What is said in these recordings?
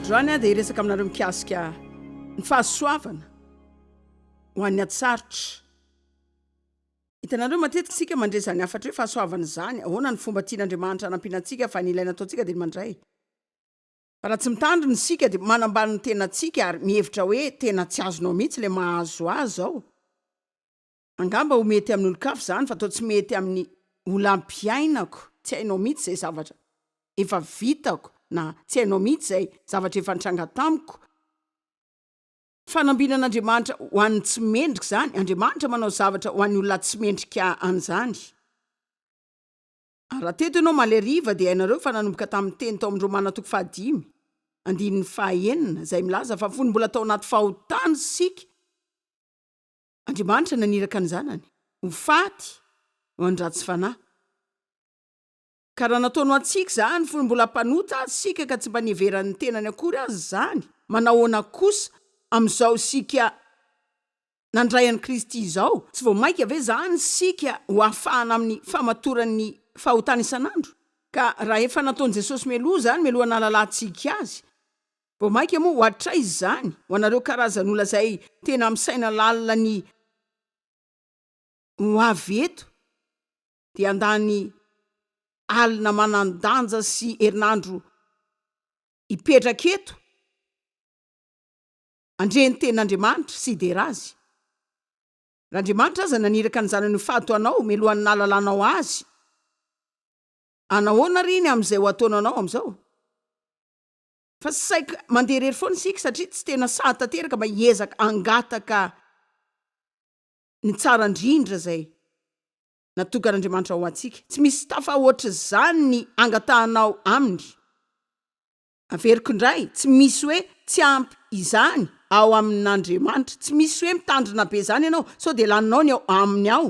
androany ah dia hiresaka aminareo mikasika ny fahasoavana ho an'ny atsarotra hitanareo matetika isika mandre izany hafatra hoe fahasoavana izany ahoana ny fomba tian'andriamanitra anampiana antsika fa ny ilaina ataontsika dia ny mandray Raha tsy mitandrina isika dia manambany ny tenantsika ary mihevitra hoe tena tsy azonao mihitsy ilay mahazo azy ao. Angamba ho mety amin'olon-kafa izany fa toa tsy mety amin'ny olam-piainako, tsy hainao mihitsy izay zavatra efa vitako na tsy hainao mihitsy izay zavatra efa nitranga tamiko. Fanambinan'Andriamanitra ho an'ny tsy mendrika izany, Andriamanitra manao zavatra ho an'ny olona tsy mendrika an'izany. Ary raha teto ianao maleriva dia hainareo fa nanomboka tamin'ny teny tao amin'ny Romana toko fahadimy, andininy fahaenina, izay milaza fa fony mbola tao anaty fahotana isika, Andriamanitra naniraka ny Zanany ho faty ho an'ny ratsy fanahy. Ka raha nataony ho antsika izany fony mbola mpanota aza isika ka tsy mba niheveran'ny tenany akory aza izany, manahoana kosa amin'izao isika nandray an'i Kristy izao, tsy vao mainka ve izany isika ho hafahana amin'ny famatoran'ny fahotana isan'andro? Ka raha efa nataon'i Jesosy meloa izany meloha nahalalantsika Azy, vao mainka moa ho hatraiza izany ho anareo karazan'olona izay tena misaina lalina ny ho avy eto dia handany alina manan-danja sy herinandro hipetraka eto? Handre ny tenin'Andriamanitra sy hidera Azy. Raha Andriamanitra aza naniraka ny Zanany ho fady ho anao mialohan'ny nahalalanao Azy, hanahoana àry iny amin'izay ho ataonanao amin'izao? Fa saika mandeha irery foana isika, satria tsy tena sahy tanteraka mba hiezaka hangataka ny tsara indrindra izay natokan'Andriamanitra ho antsika. Tsy misy tafahoatr'izany ny angatahanao Aminy. Averiko indray, tsy misy hoe tsy ampy izany ao amin'Andriamanitra. Tsy misy hoe mitandrina be izany ianao sao dia laninao ny ao aminy ao.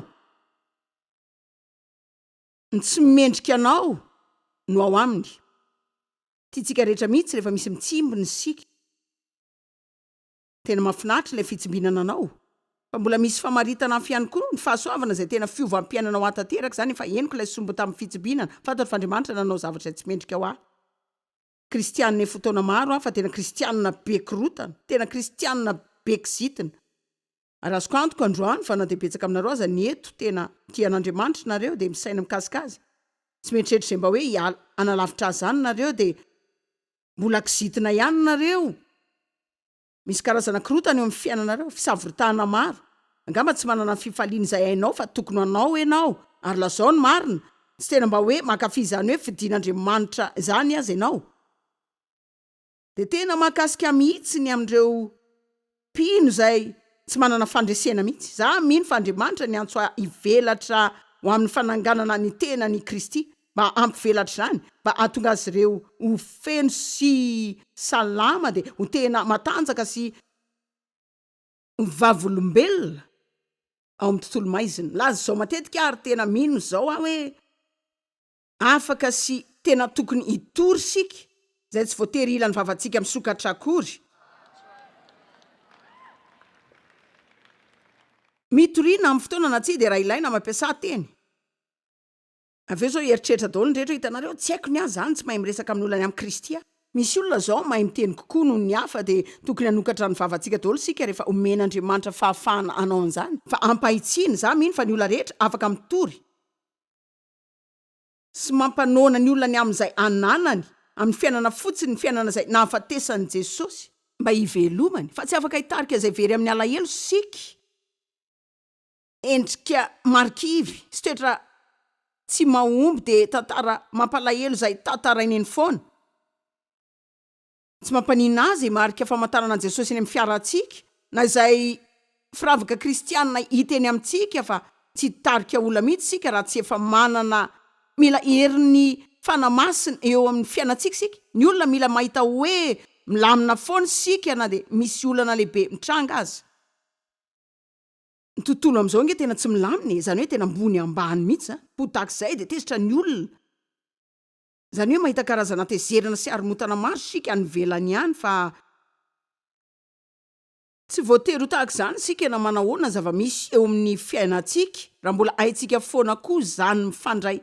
Ny tsy mendrika anao no ao aminy. Tiantsika rehetra mihitsy rehefa misy mitsimbo ny siky. Tena mafinaritra ilay fitsimbinana anao fa mbola misy famaritana afy ihany koa ny fahasoavana izay tena fiovam-piainana ho ahy tanteraka izany efa henoko ilay sombo tamin'ny fitsimbinana fantatro fa Andriamanitra nanao zavatra izay tsy mendrika ho ahy kristianina efa ho taona maro aho fa tena kristianina be korotana tena kristianina be kizitina ary azoko antoka androany fa na dia betsaka aminareo aza ny eto tena tia an'Andriamanitra nareo dia misaina mikasika azy tsy mieritreritra izay mba hoe hiala hanalavitra azy izany nareo dia Mbola kizitina ihany nareo. Misy karazana korotana eo amin'ny fiainanareo, fisavorotahana maro. Angamba tsy manana ny fifaliana izay hainao fa tokony hanao ianao. Ary lazao ny marina, tsy tena mba hoe mankafy izany hoe fidin'Andriamanitra izany aza ianao. Dia tena mahakasika mihitsy ny amin'ireo Mpino izay tsy manana fandresena mihitsy. Izaho mino fa Andriamanitra niantso ahy hivelatra ho amin'ny fananganana ny tenany i Kristy mba hampivelatra izany, mba hahatonga azy ireo ho feno sy salama dia ho tena matanjaka sy ho vavolombelona ao amin'ny tontolo maizina. Milaza izao matetika aho ary tena mino izao aho hoe. afaka sy tena tokony hitory isika izay tsy voatery hila ny vavantsika misokatra akory. Mitoriana amin'ny fotoana na tsia dia raha ilaina mampiasa teny. Avy eo izao hieritreritra daholo ny rehetra, hitanareo, tsy haiko ny ahy izany, tsy mahay miresaka amin'ny olona ny amin'i Kristy aho. Misy olona izao mahay miteny kokoa noho ny hafa dia tokony hanokatra ny vavantsika daholo isika rehefa omen'Andriamanitra fahafahana hanao an'izany. Fa ampahitsiana, izaho mino fa ny olona rehetra afaka mitory. sy mampanoana ny olona ny amin'izay ananany amin'ny fiainana fotsiny, ny fiainana izay nahafatesan'i Jesosy mba hivelomany, fa tsy afaka hitarika izay very amin'ny alahelo siky endrika marikivy sy toetra tsy mahomby dia tantara mampalahelo izay tatarainy eny foana. Tsy mampaninona ahy izay marika famantarana an'i Jesosy eny amin'ny fiarantsika, na izay firavaka kristiana hita eny amintsika fa tsy hitarika olona mihitsy isika raha tsy efa manana Mila herin'ny Fanahy Masina eo amin'ny fiainantsika isika. Ny olona mila mahita hoe milamina foana isika na dia misy olana lehibe mitranga aza. Ny tontolo amin'izao ange tena tsy milamina e, izany hoe tena ambony ambany mihitsy izany. Ho tahaka izay dia tezitra ny olona. Izany hoe mahita karazana tezerana sy haromotana maro isika any ivelany ihany fa. Tsy voatery ho tahaka izany isika na manahoana ny zava-misy eo amin'ny fiainantsika raha mbola haintsika foana koa izany mifandray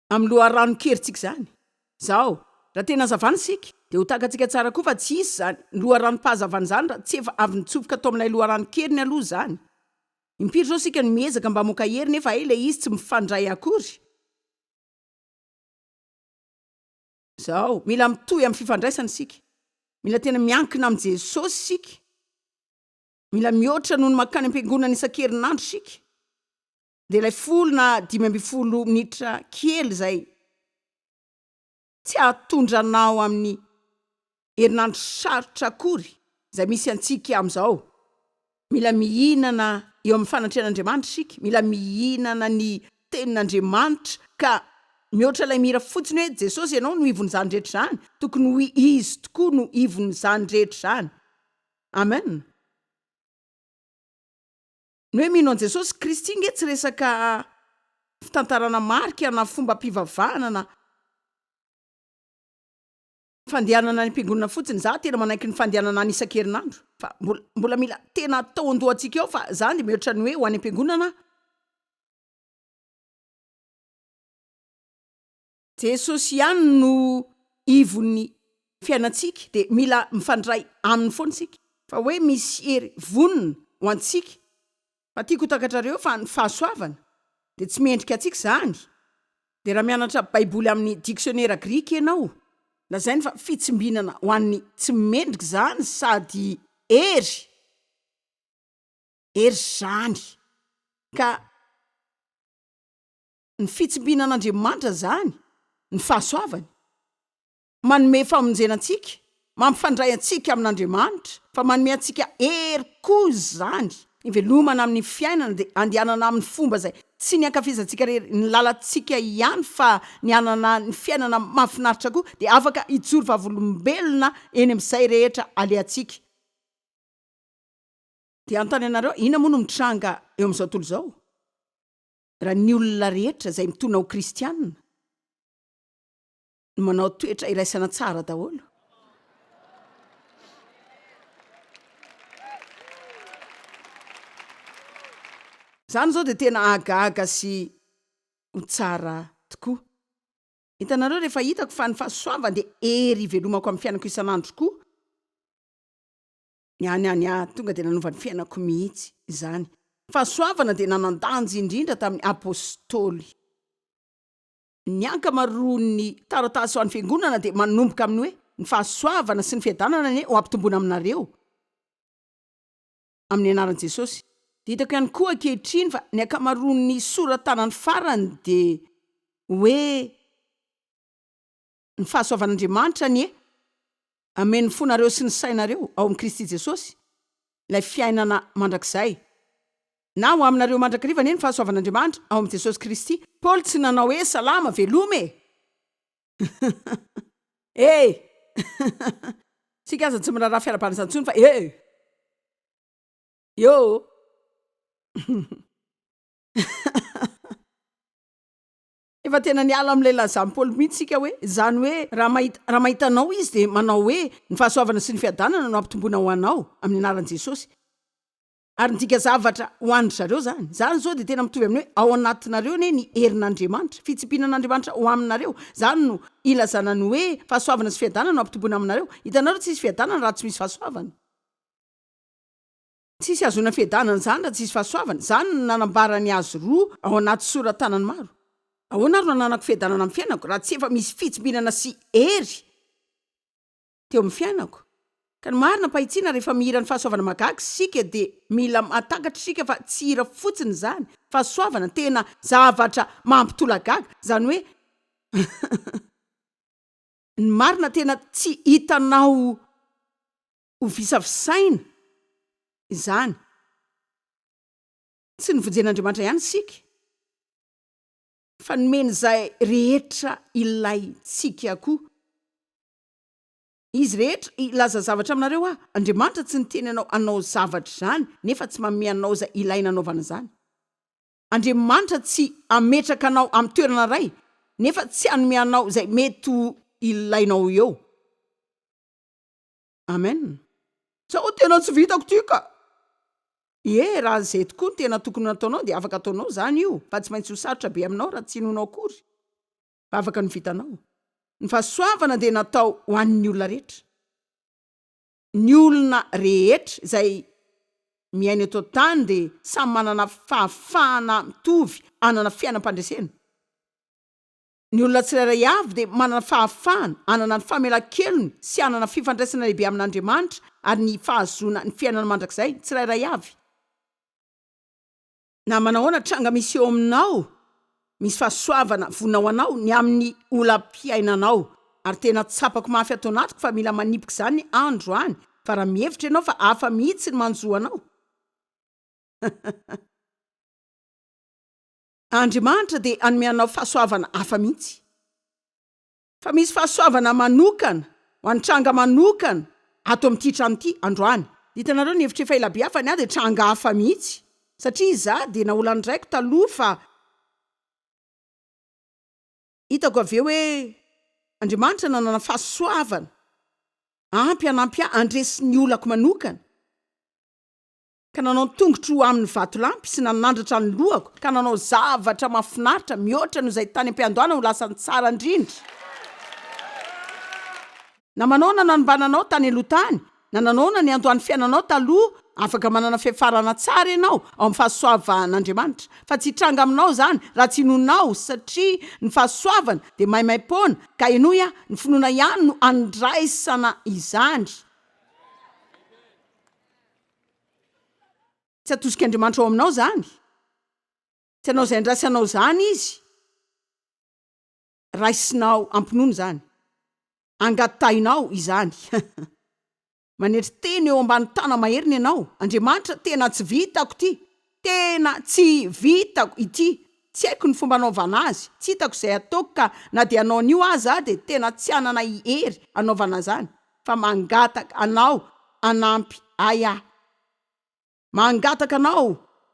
amin'ny loharanon-kerintsika izany. Izao, raha tena hazavana isika dia ho takatsika tsara koa fa tsy hisy izany loharanom-pahazavana izany raha tsy efa avy nitsofoka tao amin'ilay loharanon-keriny aloha izany. Impiry zao isika no miezaka mba hamoaka hery nefa hay ilay izy tsy mifandray akory? Zao, mila mitohy amin'ny fifandraisana isika. Mila tena miankina amin'i Jesosy isika. Mila mihoatra noho ny mankany am-piangonana isan-kerinandro isika. Dia ilay folo na dimy ambin'ny folo minitra kely izay. tsy hahatondra anao amin'ny herinandro sarotra akory izay misy antsika amin'izao. Mila mihinana eo amin'ny fanatrehan'Andriamanitra isika, mila mihinana ny Tenin'Andriamanitra ka mihoatra ilay mihira fotsiny hoe Jesosy Ianao no ivon'izany rehetra izany, tokony ho Izy tokoa no ivon'izany rehetra izany. Amen. Ny hoe mino an'i Jesosy Kristy nge tsy resaka fitantarana marika na fombam-pivavahana na fandehanana any am-piangonana fotsiny. Izaho tena manaiky ny fandehanana any isan-kerinandro fa mbola mila tena atao an-dohantsika eo fa izaho dia mihoatra ny hoe ho any am-piangonana aho. Jesosy ihany no ivon'ny fiainantsika dia mila mifandray Aminy foana isika. Fa hoe misy hery vonona ho antsika. Fa tiako ho takatrareo fa ny fahasoavana dia tsy mendrika antsika izany. Dia raha mianatra baiboly amin'ny diksionera grika ianao, lazainy fa fitsimbinana ho an'ny tsy mendrika izany sady hery, hery izany ka. ny fitsimbina an'Andriamanitra izany, ny fahasoavany. Manome famonjena antsika, mampifandray antsika amin'Andriamanitra, fa manome antsika hery koa izany. Ivelomana amin'ny fiainana dia andehanana amin'ny fomba izay tsy ny ankafizantsika irery, ny lalantsika ihany, fa ny hanana ny fiainana mahafinaritra koa, dia afaka hijoro vavolombelona eny amin'izay rehetra alehantsika. Dia hanontany anareo, inona moa no mitranga eo amin'izao tontolo izao? Raha ny olona rehetra izay mitona ho kristianina no manao toetra iraisana tsara daholo, izany izao dia tena hahagaga sy ho tsara tokoa. Hitanareo, rehefa hitako fa ny fahasoavany dia hery ivelomako amin'ny fiainako isan'andro koa, Ny any any aho tonga dia nanova ny fiainako mihitsy izany. Fahasoavana dia nanan-danja indrindra tamin'ny Apôstôly. Ny ankamaroan'ny taratasy ho an'ny Fiangonana dia manomboka amin'ny hoe, Ny fahasoavana sy ny fiadanana anie ho ampitomboina aminareo amin'ny anaran'i Jesôsy. Dia hitako ihany koa ankehitriny fa ny ankamaroan'ny sora-tanany farany dia hoe, Ny fahasoavan'Andriamanitra anie hameno ny fonareo sy ny sainareo ao amin'i Kristy Jesosy, ilay fiainana mandrakizay. Na ho aminareo mandrakariva anie ny fahasoavan'Andriamanitra ao amin'i Jesosy Kristy. Paoly tsy nanao hoe salama, veloma e! Hey! Isika aza tsy miraharaha fiarahabana izany intsony fa hey! Yo! Efa tena niala amin'ilay lazan'i Paoly mihitsy isika hoe izany hoe raha mahita, raha mahita anao izy dia manao hoe ny fahasoavana sy ny fiadanana no ampitomboina ho anao amin'ny anaran'i Jesosy. Ary midika zavatra ho an-dry zareo izany. Izany izao dia tena mitovy amin'ny hoe ao anatinareo anie ny herin'Andriamanitra, fitsipiana an'Andriamanitra ho aminareo. Izany no ilazana ny hoe fahasoavana sy fiadanana no ampitomboina aminareo. Hitanareo, tsy hisy fiadanana raha tsy misy fahasoavana. Tsisy ahazoana fiadanana izany raha tsisy fahasoavana. Izany no nanambaran'i Azy roa ao anaty sora-tanany maro. Ahoana ary no ananako fiadanana amin'ny fiainako raha tsy efa misy fitsimbinana sy hery teo amin'ny fiainako? Ka ny marina am-pahitsiana, rehefa mihira ny fahasoavana mahagaga isika dia mila mahatakatra isika fa tsy hira fotsiny izany. Fahasoavana, tena zavatra mampitolagaga, izany hoe ny marina tena tsy hitanao Ho visavisaina izany. Tsy novonjen'Andriamanitra ihany isika, fa nomeny izay rehetra ilaintsika koa. Izy rehetra, hilaza zavatra aminareo aho, Andriamanitra tsy niteny anao hanao zavatra izany, nefa tsy manome anao izay ilaina hanaovana izany. Andriamanitra tsy hametraka anao amin'ny toerana iray, nefa tsy hanome anao izay mety ho ilainao eo. Amen. Sao tena tsy vitako ty ka. Ie, raha izay tokoa no tena tokony nataonao dia afaka ataonao izany io fa tsy maintsy ho sarotra be aminao raha tsy inoanao akory fa afaka ny vitanao. Ny fahasoavana dia natao ho an'ny olona rehetra. Ny olona rehetra izay miaina eto an-tany dia samy manana fahafahana mitovy hanana fiainam-pandresena. Ny olona tsirairay avy dia manana fahafahana hanana ny famelan-kelony sy hanana fifandraisana lehibe amin'Andriamanitra ary ny fahazoana ny fiainana mandrakizay ny tsirairay avy. Na manahoana tranga misy eo aminao, misy fahasoavana vonona ho anao ny amin'ny olam-piainanao. Ary tena tsapako mafy ato anatiko fa mila manipika izany andro any, fa raha mihevitra ianao fa hafa mihitsy ny manjo anao, Andriamanitra dia hanome anao fahasoavana hafa mihitsy. Fa misy fahasoavana manokana ho an'ny tranga manokana ato amin'ity trano ity androany. Hitanareo ny hevitr'efa ela be hafa ny ahy dia tranga hafa mihitsy satria izaho dia naolan'ny raiko taloha fa hitako avy eo hoe Andriamanitra nanana fahasoavana ampy hanampy ahy handresy ny olako manokana. ka nanao ny tongotro amin'ny vatolampy sy nanandratra ny lohako ka nanao zavatra mahafinaritra mihoatra noho izay tany am-piandohana ho lasa ny tsara indrindra na manao na nanimbana anao tany aloha tany na nanao na niandohan'ny fiainanao taloha afaka manana fiafarana tsara ianao ao amin'ny fahasoavan'Andriamanitra fa tsy hitranga aminao izany raha tsy inoanao satria ny fahasoavana dia maimaim-poana ka henoy aho ny finoana ihany no andraisana izany Tsy atosik' Andriamanitra ao aminao izany. Tsy hanao izay andrasanao izany Izy. Raisinao am-pinoana izany. Angatahinao izany. Manetry tena eo ambany tana-maheriny ianao. Andriamanitra, tena tsy vitako ity. Tena tsy vitako ity, tsy haiko ny fomba anaovana azy, tsy hitako izay ataoko ka na dia hanao an'io aza aho dia tena tsy hanana i hery hanaovana izany fa mangataka anao hanampy ahy aho. Mangataka anao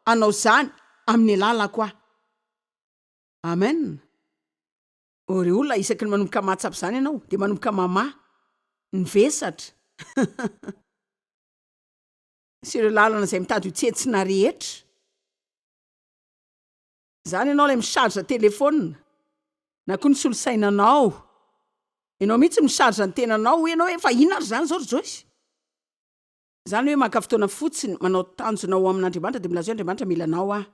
hanao izany amin'ny alalako aho. Amen. Ore olona isaky ny manomboka mahatsapa izany ianao dia manomboka mamaha ny vesatra. sy ireo lalana izay mitady ho tsentsina rehetra. Izany ianao ilay mi-charge telefaonina na koa ny solosainanao. Ianao mihitsy no mi-charge ny tenanao. Hoy ianao hoe, fa inona ary izany izao ry Joyce? Izany hoe maka fotoana fotsiny manao tanjona ho amin'Andriamanitra dia milaza hoe, Andriamanitra mila anao aho.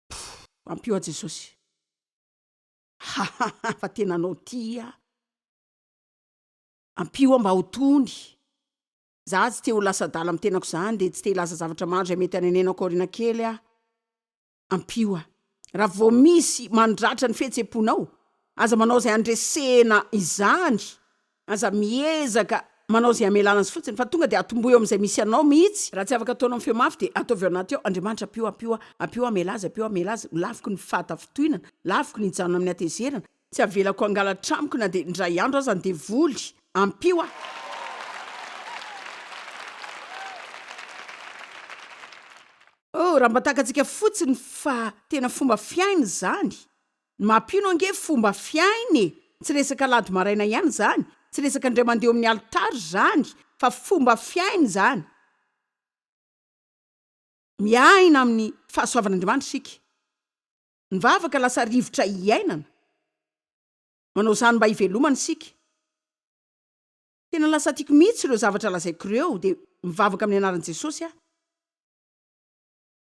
Pff, ampio aho Jesosy. Hahaha, fa tena anao tia aho. Ampio aho mba ho tony. Za tsy te ho lasa adala am tenako zany de tsy te hilaza zavatra maro zay mety hanenenako aoriana kely aho. Ampio aho. Raha vao misy mandratra ny fihetseponao, aza manao zay handresena izany, aza miezaka manao zay hamelana azy fotsiny fa tonga de atombohy eo amizay misy anao mihitsy, raha tsy afaka ataonao feo mafy de ataovy ao anaty ao, Andriamanitra ampio ampio aho, ampio aho hamela azy, ampio aho hamela azy, ho lafiky ny fahatafitohinana, lafiky ny hijanona amin'ny hatezerana, Tsy avelako hangalatra amiko na dia indray andro aza ny devoly. Ampio aho. Oh, raha mba takatsika fotsiny fa tena fomba fiaina izany. Ny maha mpino ange fomba fiaina e! Tsy resaka alahady maraina ihany izany, tsy resaka indray mandeha eo amin'ny alitara izany, fa fomba fiaina izany. Miaina amin'ny fahasoavan'Andriamanitra isika. Ny vavaka lasa rivotra hiainana. Manao izany mba hivelomana isika. Tena lasa tiako mihitsy ireo zavatra lazaiko ireo dia mivavaka amin'ny anaran'i Jesosy aho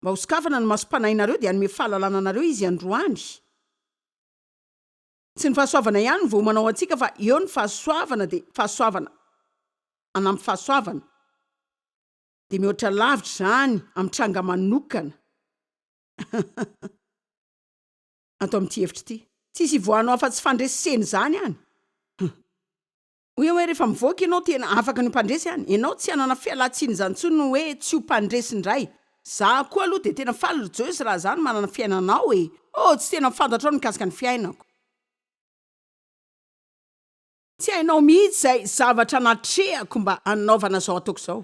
mba ho sokafana ny masom-panahinareo dia hanome fahalalana anareo Izy androany. Tsy ny fahasoavana ihany no voamana ho antsika fa eo ny fahasoavana dia fahasoavana hanampy fahasoavana dia mihoatra lavitra izany amin'ny tranga manokana. ato amin'ity efitra ity. Tsisy ivoahanao afa-tsy fandresena izany any. Hoe hoe rehefa mivoaka ianao tena afaka ny ho mpandresy any. Ianao tsy hanana fialan-tsiny izany intsony ny hoe tsy ho mpandresy indray. Za koa aloha dia tena faly ry Joyce raha za no manana fiainana ao e! Oh, tsy tena fantatrao ny mikasika ny fiainako. Tsy hainao mihitsy izay zavatra natrehako mba hanaovana izao ataoko izao.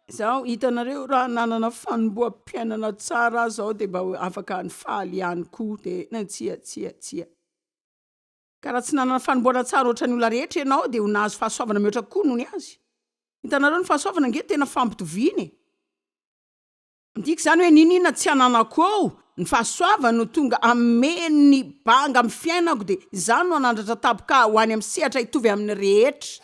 Izaho, hitanareo, raha nanana fanomboham-piainana tsara aza aho dia mba afaka ny faly ihany koa, dia tsia, tsia, tsia. Ka raha tsy nanana fanombohana tsara ohatran'ny olona rehetra ianao dia ho nahazo fahasoavana mihoatra kokoa noho ny azy. Hitanareo, ny fahasoavana ange tena fampitoviana e! Midika izany hoe niniana tsy ananako eo ny fahasoavany no tonga ameno ny banga amin'ny fiainako dia izany no hanandratra taboka ho any amin'ny sehatra hitovy amin'ny rehetra.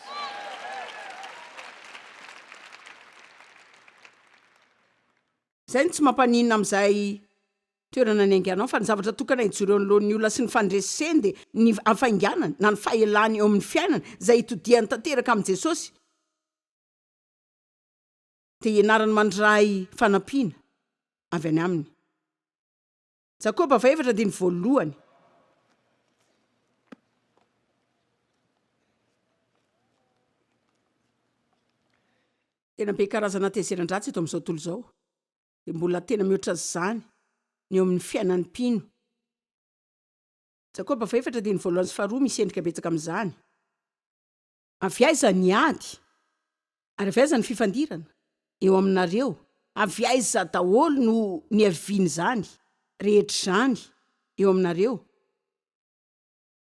Izay no tsy mampaninona amin'izay toerana niainganao fa ny zavatra tokana hijoro eo anoloan'ny olona sy ny fandreseny dia ny hafainganany na ny fahelany eo amin'ny fiainana izay hitodihany tanteraka amin'i Jesosy. dia ianarany mandray fanampiana avy any aminy. Jakoba faefatra andininy voalohany. Tena be karazana hatezeran-dratsy eto amin'izao tontolo izao. Dia mbola tena mihoatra an'izany ny eo amin'ny fiainan'ny mpino. Jakoba faefatra andininy voalohany sy faharoa misy endrika betsaka amin'izany. Avy aiza ny ady? Ary avy aiza ny fifandirana? Eo aminareo, avy aiza daholo no niavian'izany rehetra izany eo aminareo?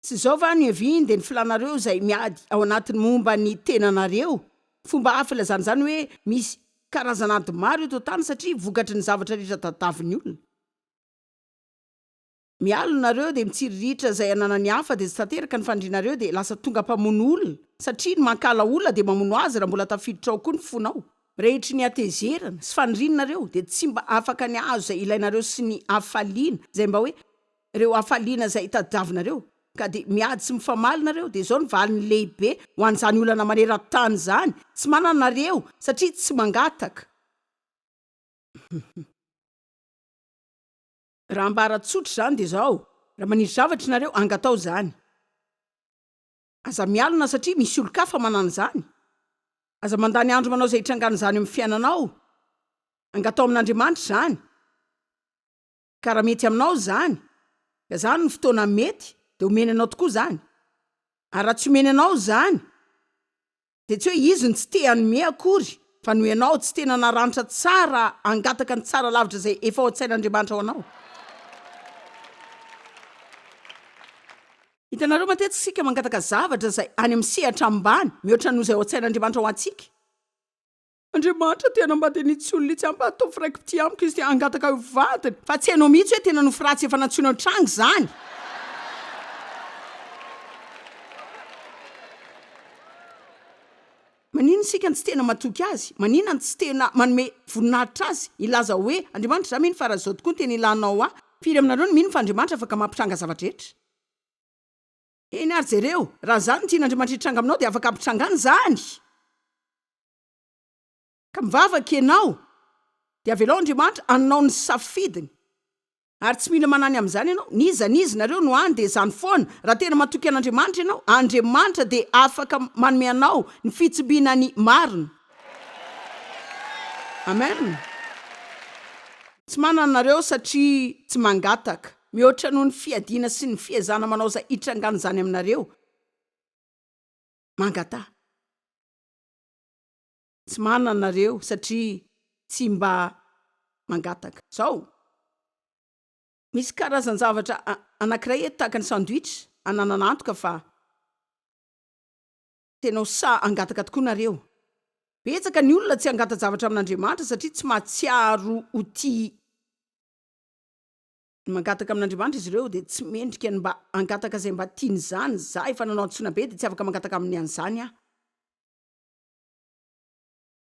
Tsy izao va no ihaviany dia ny filanareo izay miady ao anatiny momba ny tenanareo? Fomba hafa ilazana izany hoe misy karazana ady maro eto an-tany satria vokatry ny zavatra rehetra tadiavin'ny olona. mialona nareo dia mitsiriritra izay ananan'ny hafa dia tsy tanteraka ny fandrinareo dia lasa tonga mpamono olona satria ny mankala olona dia mamono azy raha mbola tafiditra ao koa ny fonao rehitry ny hatezerana sy faniriana nareo dia tsy mba afaka ny ahazo izay ilainareo sy ny hafaliana izay mba hoe ireo hafaliana izay tadiavinareo ka dia miady sy mifamaly nareo dia izao ny valiny lehibe ho an'izany olana maneran tany izany tsy manana nareo satria tsy mangataka Raha ambara tsotra izany dia izao, raha manisy zavatra ianareo, angatao izany. Aza mialona satria misy olon-kafa manana izany. Aza mandany andro manao izay hitrangana izany eo amin'ny fiainanao. Angatao amin'Andriamanitra izany. Ka raha mety aminao izany, ka izany no fotoana mety, dia omeny anao tokoa izany. Ary raha tsy omeny anao izany, dia tsy hoe izy no tsy te hanome akory fa noho ianao tsy tena naranitra tsara hangataka ny tsara lavitra izay efa ao an-tsain'Andriamanitra ho anao. Hitanareo, matetika isika mangataka zavatra izay any amin'ny sehatra ambany mihoatra noho izay ao an-tsain'Andriamanitra ho antsika. Andriamanitra te hanambady an'itsy olona itsy amiko ataovy raiki-pitia amiko izy te hangataka ho vadiny fa tsy hainao mihitsy hoe tena nofy ratsy efa nantsoina an-tranga izany. Maninona isika no tsy tena matoky Azy? Maninona no tsy tena manome voninahitra Azy? Hilaza hoe, Andriamanitra, izaho mino fa raha izao tokoa no tena ilanao ahy, firy aminareo no mino fa Andriamanitra afaka mampitranga zava-drehetra? Eny ary jereo, raha izany ny tian'Andriamanitra hitranga aminao dia afaka hampitrangany izany. Ka mivavaka ianao, dia avelao Andriamanitra hanao ny safidiny. Ary tsy mila manany amin'izany ianao, n'iza n'iza nareo no any dia izany foana, raha tena matoky an'Andriamanitra ianao, Andriamanitra dia afaka manome anao ny fitsibiana ny marina. Amen. Tsy manana nareo satria tsy mangataka. Mihoatra noho ny fiadiana sy ny fiezana manao izay hitrangan'izany aminareo, mangataha. Tsy manana nareo satria tsy mba mangataka. Izao, misy karazan-javatra anankiray eto tahaka ny sandwich ananana antoka fa tena ho sahy hangataka tokoa nareo. Betsaka ny olona tsy hangata-javatra amin'Andriamanitra satria tsy mahatsiaro ho tia mangataka amin'Andriamanitra izy ireo dia tsy mendrika ny mba hangataka izay mba tiany izany, za efa nanao antsoina be dia tsy afaka mangataka aminy an'izany aho.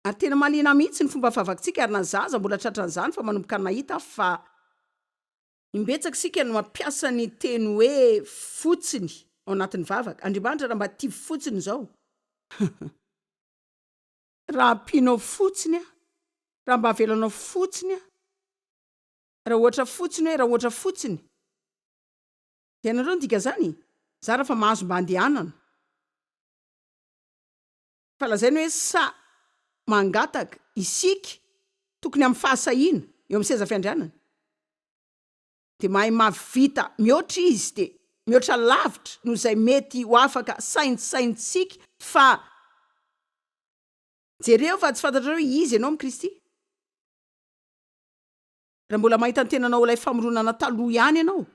Ary tena mahaliana ahy mihitsy ny fomba fahavakintsika ary na za aza mbola tratra an'izany fa manomboka nahita aho fa imbetsaka isika no mampiasa ny teny hoe fotsiny ao anatin'ny vavaka, Andriamanitra raha mba tia fotsiny izao, raha ampianao fotsiny aho, raha mba avelanao fotsiny aho, Raha ohatra fotsiny hoe raha ohatra fotsiny. Dia hainareo ny dikan'izany e? Zara fa mahazo mba andehanana. Fa lazaina hoe sa mangataka isika tokony amin'ny fahasahiana eo amin'ny seza fiandrianana. Dia mahay mahavita mihoatra izy dia mihoatra lavitra noho izay mety ho afaka saintsaintsika fa jereo fa tsy fantatrareo izy ianao amin'i Kristy. Raha mbola mahita ny tenanao ho ilay famoronana taloha ihany ianao,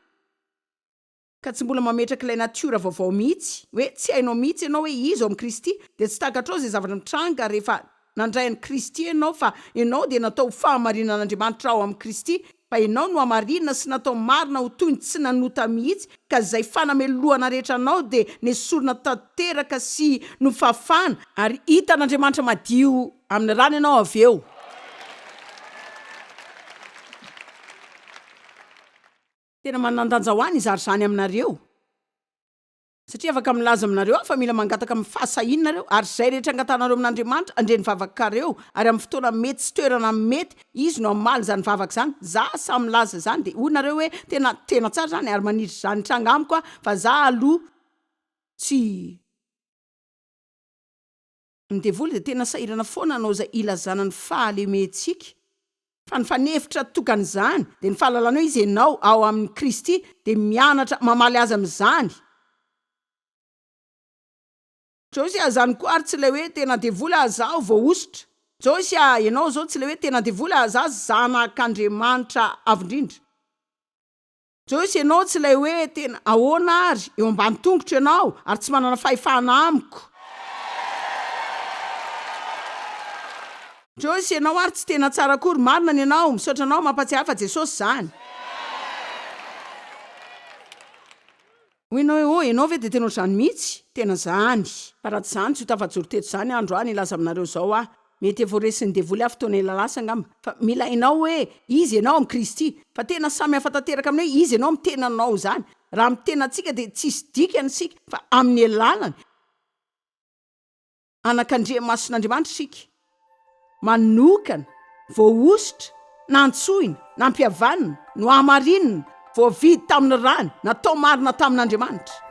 ka tsy mbola mametraka ilay natiora vaovao mihitsy, hoe tsy hainao mihitsy ianao hoe iza ao amin'i Kristy, dia tsy takatrao izay zavatra mitranga rehefa nandray an'i Kristy ianao, fa ianao dia natao ho fahamarinan'Andriamanitra ao amin'i Kristy, fa ianao nohamarinina sy natao marina ho toy ny tsy nanota mihitsy, ka izay fanamelohana rehetra anao dia nesorina tanteraka sy nofafana ary hitan'Andriamanitra madio amin'ny rany ianao avy eo. Tena manan-danja ho ahy ny hizara izany aminareo, satria afaka milaza aminareo aho fa mila mangataka amin'ny fahasahianareo, ary izay rehetra angatanareo amin'Andriamanitra, handre ny vavakareo, ary amin'ny fotoana mety sy toerana mety, Izy no hamaly izany vavaka izany. Za samy milaza izany dia hoy nareo hoe tena tena tsara izany ary maniditra izany hitranga amiko aho fa za aloha tsy. Ny devoly dia tena sahirana foana hanao izay ilazana ny fahalementsika fa ny fanefitra tokana izany dia ny fahalalana hoe izy enao ao aminy Kristy dia mianatra mamaly azy amin'izany Joyce a, zany koa ary tsy ilay hoe tena devoly a zaho vao hosotra. Joyce a, ianao zao tsy ilay hoe tena devoly a za zanak'Andriamanitra avo indrindra. Joyce, ianao tsy ilay hoe tena ahoana ary, eo ambany tongotro ianao ary tsy manana fahefana amiko. Joyce, ianao ary tsy tena tsara akory, marina ny anao, misaotra anao, mampatsiahy fa Jesosy zany. Hoy ianao hoe, Oh, ianao ve dia tena ohatr'izany mihitsy? Tena izany! Fa raha tsy izany, tsy ho tafajoro teto izany andro aho nilaza aminareo izao aho. Mety efa ho resin'ny devoly aho fotoana ela lasa angamba, fa mila hainao hoe iza ianao amin'i Kristy. Fa tena samy hafa tanteraka amin'ny hoe iza ianao amin'ny tenanao izany. Raha amin'ny tenantsika dia tsisy dikany isika, fa amin'ny alalany. anak'Andriamasin'Andriamanitra isika, manokana, voahosotra, nantsoina, nampihavanina, nohamarinina, voavidy tamin'ny rany, natao marina tamin'Andriamanitra.